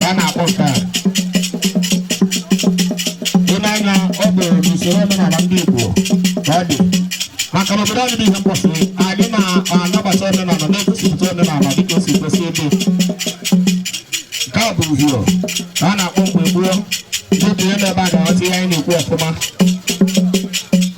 a na-akpọ nke a ile anya ọ bụ n'usoro omenala ndị Igbo ka ọ dị maka na obodo anyị bụ Ihembọsị anyị na-anabata omenala na-egosipụta omenala dịka o si kwesị ịdị nke a bụ uhio ka a na-akpọ mgbe gboo dịka ihe n'ebe a ga-aghọta ihe anyị na-ekwu ọfụma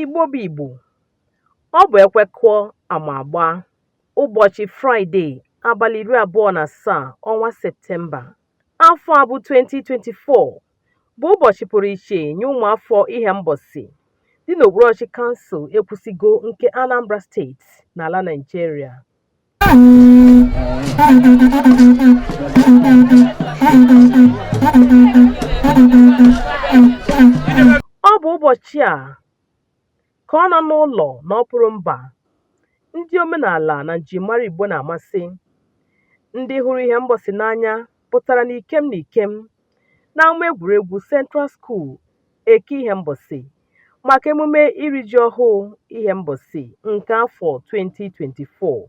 Igbo bụ Igbo, ọ bụ ekwe kụọ ama agbaa, ụbọchị Fraịde, abalị iri abụọ na asaa, ọnwa Septemba. Afọ a bụ 2024 bụ ụbọchị pụrụ iche nye ụmụafọ Ihembọsị dị n'okpuruọchịchị kansụl Ekwusigo nke Anambra steeti n'ala Naịjirịa. Ọ bụ ụbọchị a Ka ọ nọ n'ụlọ na ọpụrụ mba, ndị omenala na njirimara Igbo na-amasị. Ndị hụrụ Ihembọsị n'anya pụtara n'ikem n'ikem n'ama egwuregwu Central School Eke Ihembọsị maka emume iri ji ọhụụ Ihembọsị nke afọ 2024.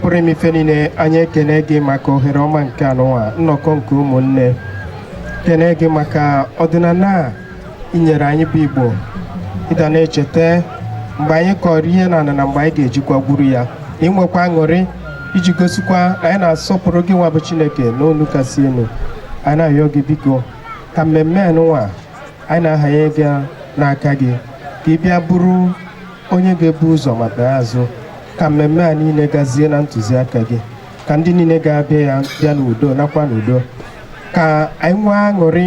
pụrụ ime ife niile anyị ekene gị maka ohere ọma nke anụnwa nnọkọ nke ụmụnne kene gị maka ọdịnala a i nyere anyị bụ Igbo ịdị na-echeta mgbe anyị kọrọ ihe na na mgbe anyị ga-ejikwa gwuru ya na inwekwa aṅụrị iji gosikwa na anyị na-asọpụrụ gị nwa bụ Chineke nọ n'elu kasị elu anyị na-arịọ gị biko ka mmemme anụnwa anyị na-ahanye ya n'aka gị ka ị bịa bụrụ onye ga-ebu ụzọ ma bịa azụ ka mmemme a niile gazie na ntụziaka gị ka ndị niile ga-abịa ya bịa n'udo naakwa n'udo ka anyị nwee aṅụrị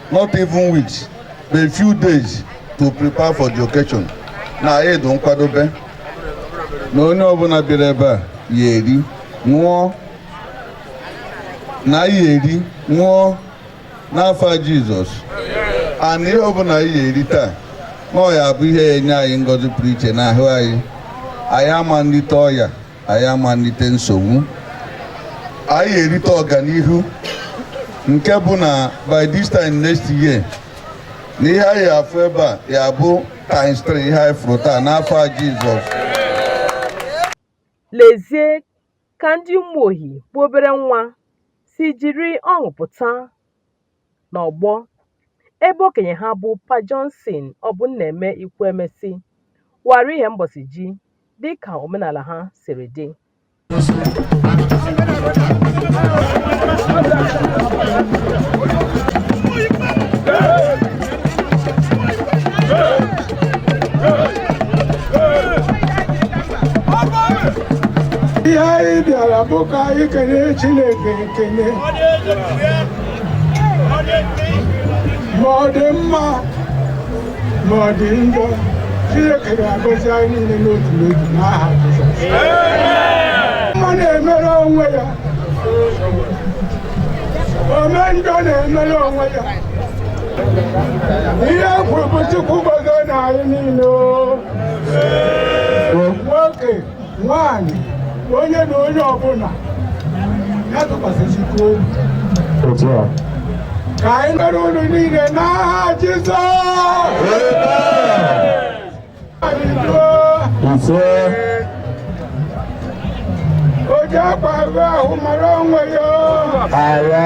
not even weeks but few days to prepare for the occasion na anyị dị nkwadobe na onye ọbụla bịara ebe a ya eri ṅụọ na ya eri ṅụọ n'afa Jizọs and ihe ọbụla anyị ya eri taa na ọ ya bụ ihe ya enye anyị ngọzi pụrụ iche n'ahụ anyị anyị ama nrite ọya anyị ama erite nsogbu anyị ya-erite ọganihu nke bụ na by this time next year na ihe anyị ya-afụ ebe a ya-abụ times 3 ihe anyị fụrụ taa n'afa Jizọs lezie ka ndị Ụmụohi bụ obere nwa si jiri ọṅụ pụta n'ọgbọ ebe okenye ha bụ Pa Johnson Ọbụnnaeme Ikwuemesi wara Ihembosi ji dịka omenala ha siri dị ihe anyị bịara bụ ka anyị kene Chineke ekene ma ọ dị mma ma ọ dị njọ Chineke ga-agọzi anyị niile n'otu n'otu n'aha Jizọs ome mma na-emere onwe ya ome njọ na-emere onwe ya ihe kwuru bụ Chukwu gọzie na anyị niile o. nwoke nwaanyị onye na onye ọbụla ya tụkwasị Chukwu obi ka anyị mere unu niile n'aha Jizọs ise o ji akwa ahụ ahụ mara onwe ya agha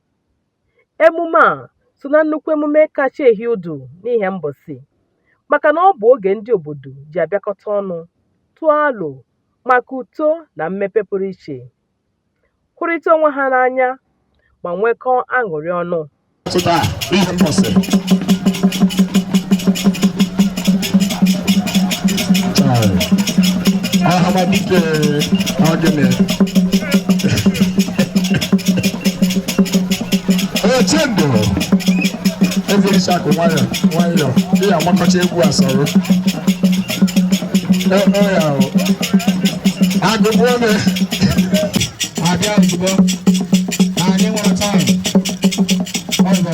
emume a so na nnukwu emume kacha ehi ụdụ n'Ihembosi maka na ọ bụ oge ndị obodo ji abịakọta ọnụ tụọ alo maka uto na mmepe pụrụ iche hụrịta onwe ha n'anya ma nwekọọ aṅụrị ọnụ pụta n'Ihembosi ahamadike ọgịnị oche ndụ ezerisi akụ nwayọ nwayọ dị ya agbakọcha egwu asọrọ Ee, ee, ya o. agụbụ ome abịa ozugbo na anyị nwere taịm ọzọ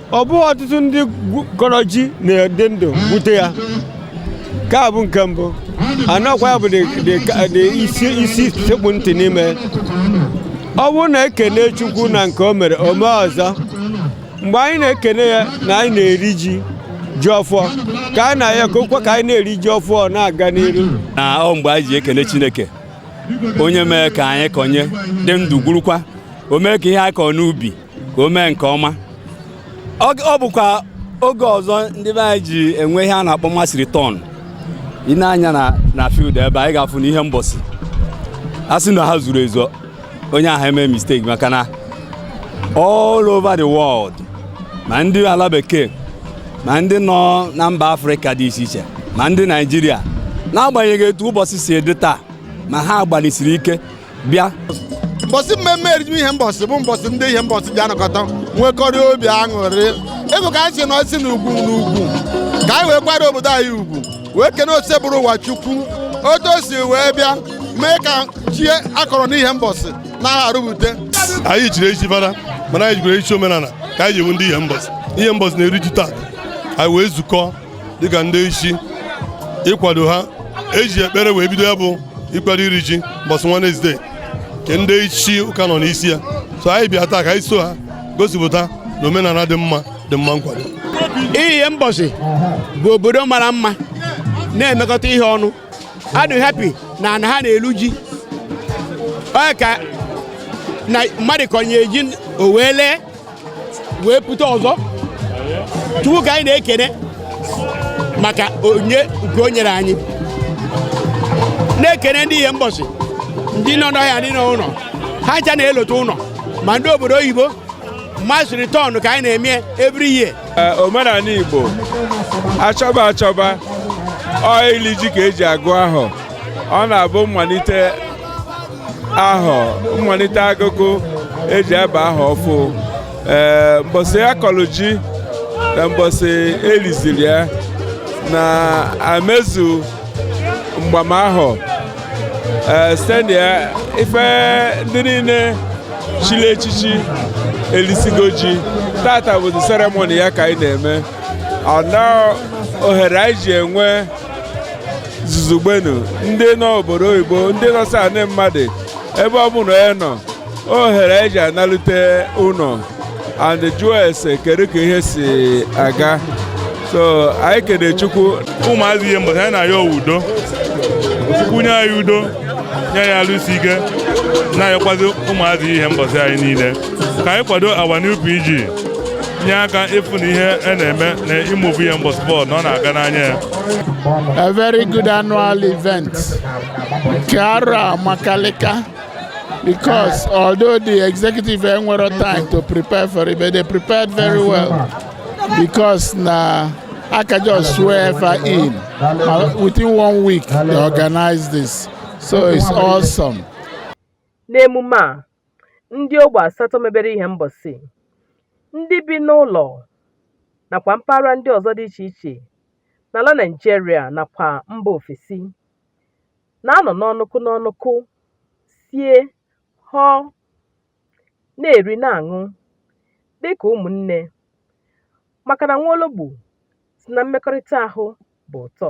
ọ bụghị ọtụtụ ndị kọrọ ji na-adị ndụ gwute ya nke a bụ nke mbụ anọkwa ya bụ the isi sekpu ntị n'ime ọ bụrụ na e kene Chukwu na nke o mere o mee ọzọ mgbe anyị na-ekene ya na anyị na-eri ji ji ọfụọ ka anyị na-ayọ ka o kwe ka anyị na-eri ji ọfụọ na-aga n'iru na ọ mgbe anyị ji ekene chineke onye mee ka anyị kọnye dị ndụ gwurukwa o mee ka ihe anyị kọọ n'ubi ka o mee nke ọma ọ bụkwa oge ọzọ ndị be anyị ji enwe ihe a na-akpọ mass return ị nee anya na field ebe anyị ga-afụ na Ihembosi a sị na ha zuru ezu onye ahụ eme mistake maka na all over the world ma ndị ala bekee ma ndị nọ na mba afrịka dị iche iche ma ndị naijiria n'agbanyeghị etu ụbọchị si dị taa ma ha gbalịsiri ike bịa mbọsị mmemme iri ji Ihembosi bụ mbọsị ndị Ihembosi ji anọkọta nwekọrịa obi aṅụrị ịbụ ka anyị si nọsi n'ugwu ka anyị wee kwanyere obodo anyị ugwu wee kene Osebụrụwa chukwu otu o si wee bịa mee ka ji a kọrọ n'Ihembosi na-arụbute anyị chiri echi fada mana anyị chikwara echi omenala ka anyị ji wụ ndị Ihembosi Ihembosi na-eri ji taa anyị wee zukọ dịka ndị isi ịkwado ha eji ekpere wee bido ya bụ ịkwado iri ji mbọsị Wenesde nke ndị isi ụka nọ n'isi ya so anyị bịa taa ka anyị so ha gosipụta na omenala dị mma dị mma nkwado Ihembosi bụ obodo mara mma na-emekọta ihe ọnụ a dụ happy na ana ha na-elu ji ka mmadụ kọnye ji o wee lee wee pụta ọ sọ chukwu ka anyị na-ekene maka onyinye nke o nyere anyị na-ekene ndị Ihembosi ndị nọ n'ọhịa ndị nọ ụlọ ha ncha na-alọta ụlọ ma ndị obodo oyibo mass return ka anyị na-eme every year omenala igbo achọba achọba ọ ili ji ka eji agụ ahọ ọ na-abụ mmalite ahọ mmalite agụgụ eji aba ahọ ọfụ ee mbọsị akọlụ ji na mbọsị eliziri ya na-emezu mgbamahọ ee site na ya ife ndị niile chili echichi elisigo ji tata bụzi ceremony ya ka anyị na-eme ọ na ohere anyị ji enwe zuzugbenu ndị nọ obodo oyibo ndị nọsị anị mmadụ ebe ọ bụla onye nọ ohere eji analute ụlọ and jụọ ese kedu ka ihe si aga so anyị kene chukwu ụmụazị Ihembosi anyị na-ayọ udo chukwu nye anyị udo nye anyị alụ isi ike na-ayọkwazi ụmụazị Ihembosi anyị niile ka anyị kwado our new PG nye aka ịfụ na ihe a na-eme na ị move Ihembosi forward na ọ na-aga n'anya ya a very good annual event nke arọ a amakalịka because although the executive enwero time to prepare for it but they prepared very well because na I can just swear if I in. Uh, within one week, they organize this. So it's awesome. N'emume a, ndị ogbe asatọ mebere Ihembọsị ndị bi n'ụlọ nakwa mpaghara ndị ọzọ dị iche iche n'ala Naịjirịa nakwa mba ofesi na-anọ n'ọnụkụ n'ọnụkụ sie họọ na-eri na-aṅụ dịka ụmụnne maka na nwa ologbo sị na mmekọrịta ahụ bụ ụtọ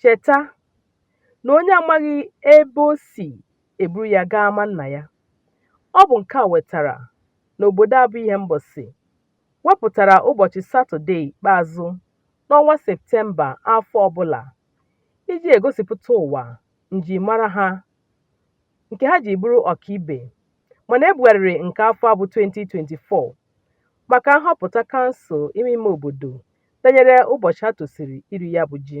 Cheta na onye amaghị ebe o si e buru ya gaa ama nna ya. Ọ bụ nke a wetara na obodo a bụ Ihembọsị wepụtara ụbọchị Satọdee ikpeazụ n'ọnwa Septemba afọ ọbụla iji egosipụta ụwa njirimara ha nke ha ji bụrụ ọkaibe mana e bugharịrị nke afọ a bụ 2024 maka nhọpụta kansụl ime ime obodo danyere ụbọchị a tosiri iri ya bụ ji.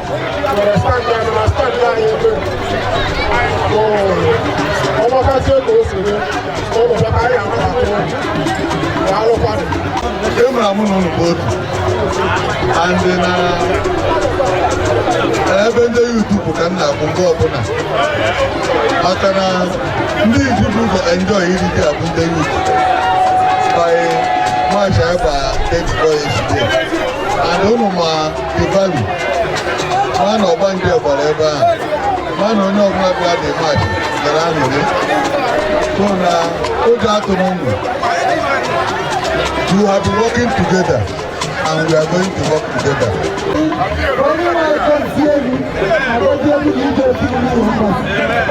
Emra mụ na ụlọ bụ otu and na ebe ndị youth bụ ka m na-akwụ mgbe ọbụla maka na ndị ji ebu ụzọ enjoy iri ji a bụ ndị youth by March anyị gba 8 boys and ụnụ ma The value ma na ọgbanje gbara ebe a ma na onye ọbụla bịa dị mmadụ gara aṅụrị so na oge atụmụmụ we have been working together and we are going to work together. onye na-akọ isi egwu agọzi egwu na ije otu ndị ụzọ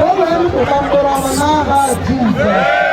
o wee rụpụta mkpụrụ ọma n'aha Jizọs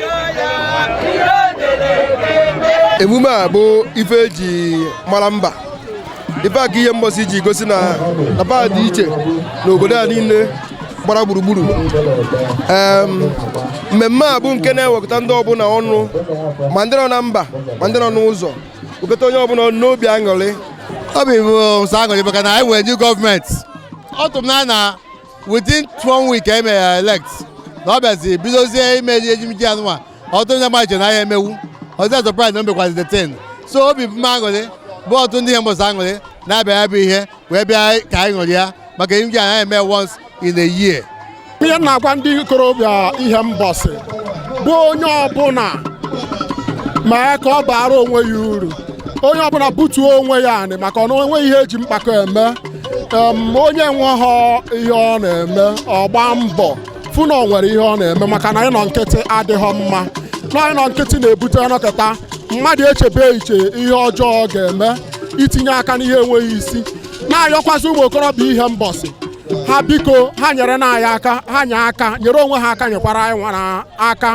emume a bụ ife e ji mara mba ife a ka Ihembọsị ji gosi na mba a dị iche n'obodo a niile gbara gburugburu mmemme a bụ nke na-ewekọta ndị ọbụla ọnụ ma ndị nọ na mba ma ndị nọ n'ụzọ wekọta onye ọbụla n'obi aṅụrị obi bụ nsọ aṅụrị maka na anyị nwere new gọọmenti ọ tụrụ m na within one week e mere ya elect na ọ bịazi bidozie ime erimiji anụnwa ọtụtụ ndị mmadụ chere na ya emewu ọzọ surprise na o mekwazi the ten so obi bụ m aṅụrị bụ ọtụtụ ndị Ihembosi aṅụrị na-abịa ya bụ ihe wee bịa ka anyị ṅụrịa maka erimiji a na-eme once in a year ihe m na-agwa ndị ikorobịa Ihembosi bụ onye ọbụla mee ka ọ baara onwe ya uru onye ọbụla butuo onwe ya anị maka na o nwehọ ihe e ji mkpakọ eme onye nwehọ ihe ọ na-eme ọ gbaa mbọ fụ na ọ nwere ihe ọ na-eme maka na ịnọ nkịtị adịhọ mma na ịnọ nkịtị na-ebute ọ nọkata mmadụ echebe iche ihe ọjọọ ọ ga-eme itinye aka n'ihe enweghị isi na-ayọkwazị ụmụ okorobịa Ihembosi ha biko ha nyere na anyị aka ha nye aka nyere onwe ha aka nyekwara anyị nwara aka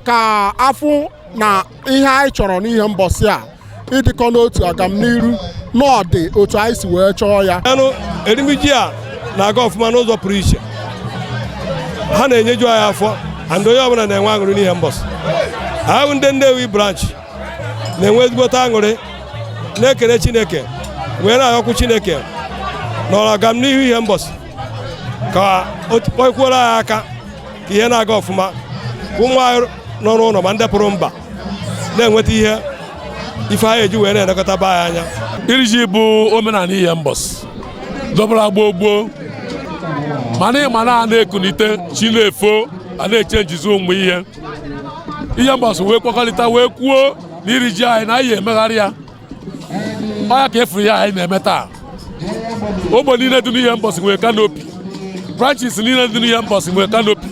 ka a fụ na ihe anyị chọrọ n'Ihembosi a ịdịkọ n'otu agamniru na ọ dị otu anyị si wee chọọ ya anụ erimiji a na-aga ọfụma n'ụzọ pụrụ iche ha na-enyeju anyị afọ and onye ọbụla na-enwe aṅụrị n'Ihembosi ahụ ndị Nnewi branch na-enwe ezigbote aṅụrị na-ekele Chineke wee na-ayọkwu Chineke n'ọrụ agamnihu Ihembosi ka o nyekwuoro anyị aka ka ihe na-aga ọfụma ka ụmụ anyị nọ n'ụlọ ma ndị pụrụ mba na-enweta ihe ife ha ya-eji wee na-elekọta be anyị anya iri ji bụ omenanị Ihembosi dọbara gboo gboo mana ịma na a na-ekunite chi na-efo a na-eche njizi ụmụ ihe Ihembosi wee kwekọrịta wee kwuo na iri ji anyị na a ya-emegharị ya ọ ya ka ị fụrụ na anyị na-eme taa ogbe niile dị n'Ihembosi nwere canopy branches niile dị n'Ihembosi nwere canopy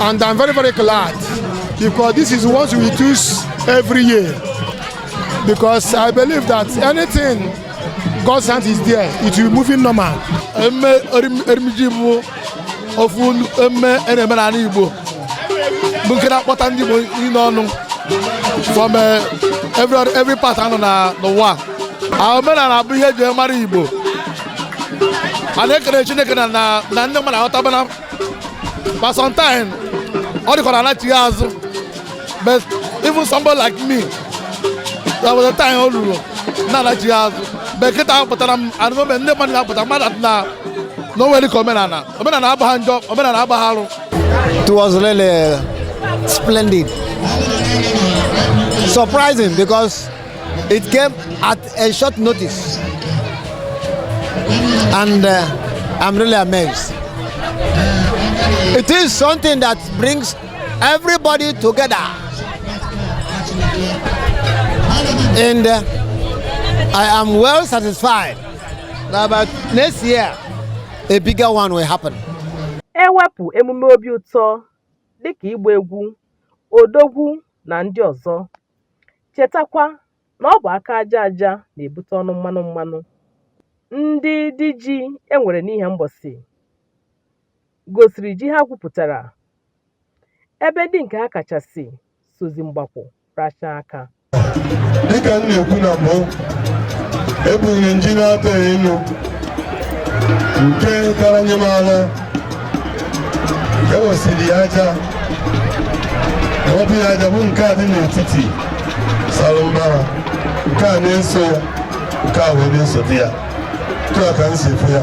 and I'm very very glad because this is what we do every year because I believe that anything God's hand is there it will be moving normal. ofu emme a na-eme n'ala Igbo bụ nke na-akpọta ndị Igbo niile ọnụ from eh, every every part a nọ n'ụwa omenala bụ ihe e ji mara Igbo a na-ekele Chineke na na ndị mmadụ aghọtabana ma sometime ọ dị ka ọ na-anachi azụ but even somebody like me there was a time o ruru na-anachi ya azụ but kịta apụtara m and the moment ndị mmadụ na-apụta mmadụ afụna na o nwere ka omenala omenala abụghị njọ omenala abụghị arụ It was really splendid. Surprising because it came at a short notice. And uh, I'm really amazed. It is something that brings everybody together and uh, I am well satisfied that about next year a bigger one will happen. ewepụ emume obi ụtọ dịka ịgba egwu odogwu na ndị ọzọ chetakwa na ọ bụ aka aja aja na-ebute ọnụ mmanụ mmanụ ndị diji enwere n'Ihembosi gosiri ji ha gwupụtara ebe ndị nke ha kachasị sozi mgbakwụ rachaa aka dịka m na-ekwu na mbụ ebunie nji naatọ elu nke kara nyị m alọ ewesịrị ya aja ewepụ ya aja bụ nke a dị n'etiti sara mbara nke a na-eso ya nke a wee na-esote ya otu a ka m si fụ ya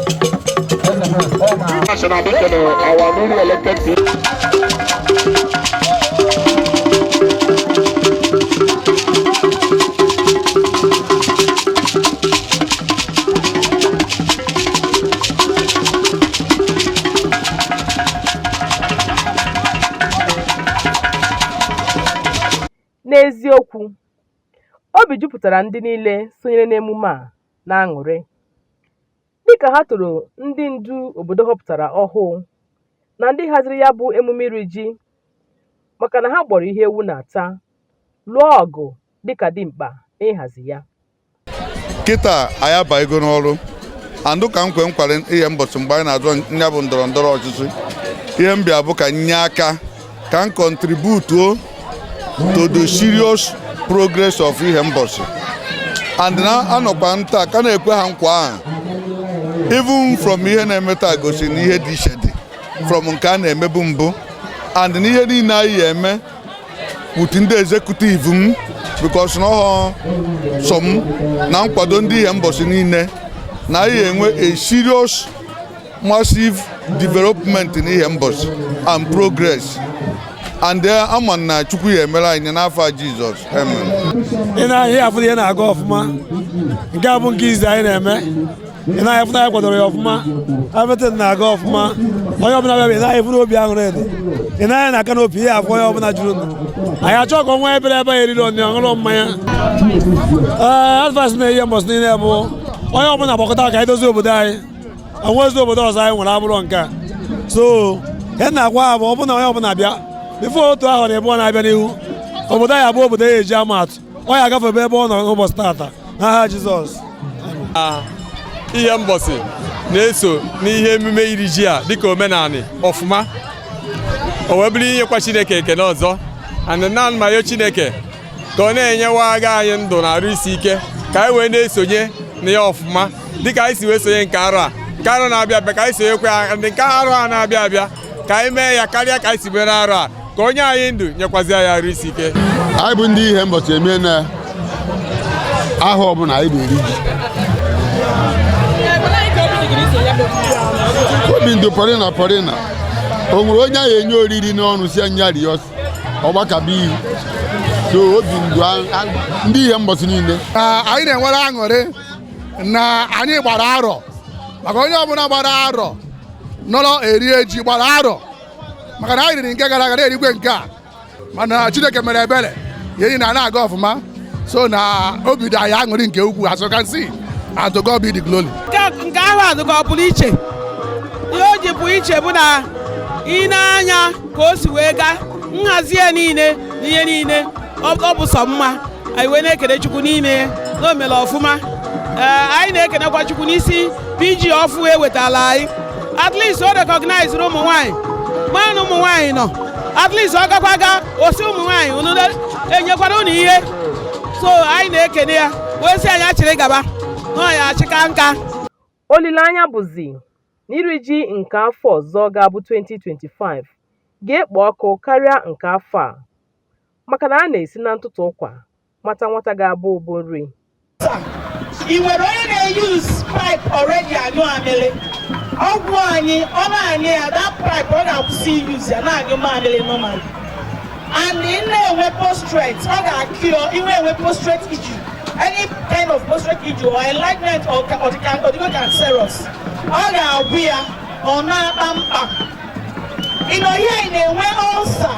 National Mission, our newly elected people. N'eziokwu, obi jupụtara ndị niile sonyere n'emume a n'aṅụrị dịka ha toro ndị ndu obodo họpụtara ọhụụ na ndị haziri ya bụ emume iri ji maka na ha gbọrọ ihe ewu na-ata lụọ ọgụ dịka dimkpa n'ịhazi ya kịta anyị abayego n'ọrụ and dịka nkwa m kwere Ihembosi mgbe anyị na-azọ nya bụ ndọrọ ndọrọ ọchịchị ihe m bịa bụ ka m nye aka ka m contribute to the serious progress of Ihembosi and na anọkwa m taa ka na-ekwe ha nkwa ahụ even from ihe na-eme taa gosi na ihe dị iche dị from nke a na-emebu mbụ and na ihe niile anyị ya eme with ndị executive m because na ọhọ sọ m na nkwado ndị Ihembosi niile na anyị ya enwe a serious massive development n'Ihembosi and progress and eh, ama m na Chukwu ya emere anyị n'afa Jizọs amen ị nee anya ị ya afụ na ihe na-aga ọfụma nke a bụ nke izi anyị na-eme ị nee anya ị fụ na anyị kwadoro ya ọfụma everything na-aga ọfụma onye ọbụla bịa ị nee anya ị fụ na obi aṅụrị dị ị nee anya na canopy ị ya afụ onye ọbụla jụrụ nụ anyị achọ ka ọnwa ebere ebe ya eriri ọnụ ọṅụrụ mmanya ee advice na Ihembosi niile bụ onye ọbụla gbakọta ka anyị dozie obodo anyị onwezi obodo ọzọ anyị nwere abụrọ nke a so ihe m na-agwa ha bụ ọ bụ na onye ọbụla bịa before otu ahọ na ịbụọ na-abịa n'ihu obodo anyị abụọ obodo ya eji ama atụ ọ ya agafebe ebe ọ nọ n'ụbọsị taata n'aha Jizọs Ihembosi na-eso n'ihe emume iri ji a dịka omenanị ọfụma o wee bụrụ inyekwa Chineke ekene ọzọ and na anyị na-ayọ Chineke ka ọ na-enyewa aga anyị ndụ na arụ isi ike ka anyị wee na-esonye na ya ọfụma dịka anyị si wee sonye nke arọ a nke arọ na-abịa abịa ka anyị sonyekwa ya ndị nke arọ a na-abịa abịa ka anyị mee ya karịa ka anyị si mere arọ a ka o nye anyị ndụ nyekwazi anyị arụ isi ike anyị bụ ndị Ihembosi amen ahọ ọbụla anyị na-eri ji obi na-adụ pọrịna pọrịna o nwere onye a ya-enye oriri n'ọnụ sị ya nya rie ọ gbakaba ihu so obi na-adụ anyị ndị Ihembosi niile anyị na-enwere aṅụrị na anyị gbara arọ maka onye ọbụla gbara arọ nọrọ e rie ji gbara arọ maka na anyị riri nke gara aga na-erikwa nke a mana Chineke mere ebere ihe niine ana-aga ọfụma so na obi dị anyị aṅụrị nke ukwuu as you can see and to God be the glory nke ahọ a dụka ọ pụrụ iche ihe o ji pụọ iche bụ na i nee anya ka o si wee gaa nhazi ya niile na ihe niile ọ bụ sọ mma anyị wee na-ekene chukwu n'ime ya na o mere ọfụma ee anyị na-ekenekwa chukwu n'isi PG ọfụụ e wetaala anyị at least o recognizeri ụmụ nwaanyị ma na ụmụ nwaanyị nọ at least ọ gakwa ga ọ sị ụmụ nwaanyị unu e nyekwara unu ihe so anyị na-ekene ya wee sị ya nya chịrị gaba na ọ ya-achịka nka olileanya bụzi na iri ji nke afọ ọzọ ga-abụ 2025 ga-ekpo ọkụ karịa nke afọ a maka na a na-esi na ntụtụ ụkwa mata nwata ga-abụ ụbụ nri ị nwere onye na-use pipe already anyụ amịrị ọgwụ anyị ọ na-aṅụ ya that pipe ọ ga-akwụsị i use ya na-anyụ mamịrị normal and ị na-enwe prostate ọ ga-acure inwe enwe prostate issue any kind of prostate issue or enlargement or ọ dịgo cancerous ọ ga-agwọ ya ọ na-akpa mkpa ịnọ ihe a ị na-enwe ulcer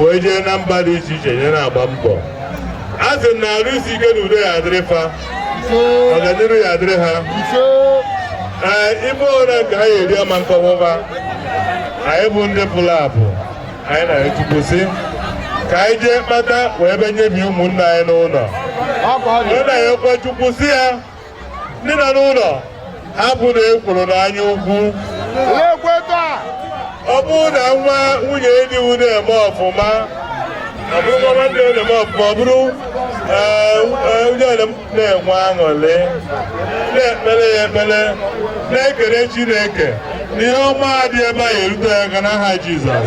wee jee na mba dị iche iche nye na-agba mbọ a sị na arụ isi ike na udo ya adịrị fa ọganiru ya adịrị ha ee ime ụra nke ha eri ama nkọwụba anyị bụ ndị pụrụ apụ anyị na-ayọ chukwu sị ka anyị jee kpata wee be nyebi ụmụnna anyị n'ụnọ anyị na-ayọkwa chukwu sị ya ndị nọ n'ụlọ hapụnụ ekworo na anya ukwu ọ bụrụ na nwa nwunye di unu na-eme ọfụma ọ bụrụ nwa nwanne unu na-eme ọfụma ọ bụrụ onye ole m na-enwe aṅụrị na-ekpere ya ekpere na-ekele Chineke ihe ọma dị ebe a erute ya aka n'aha Jizọs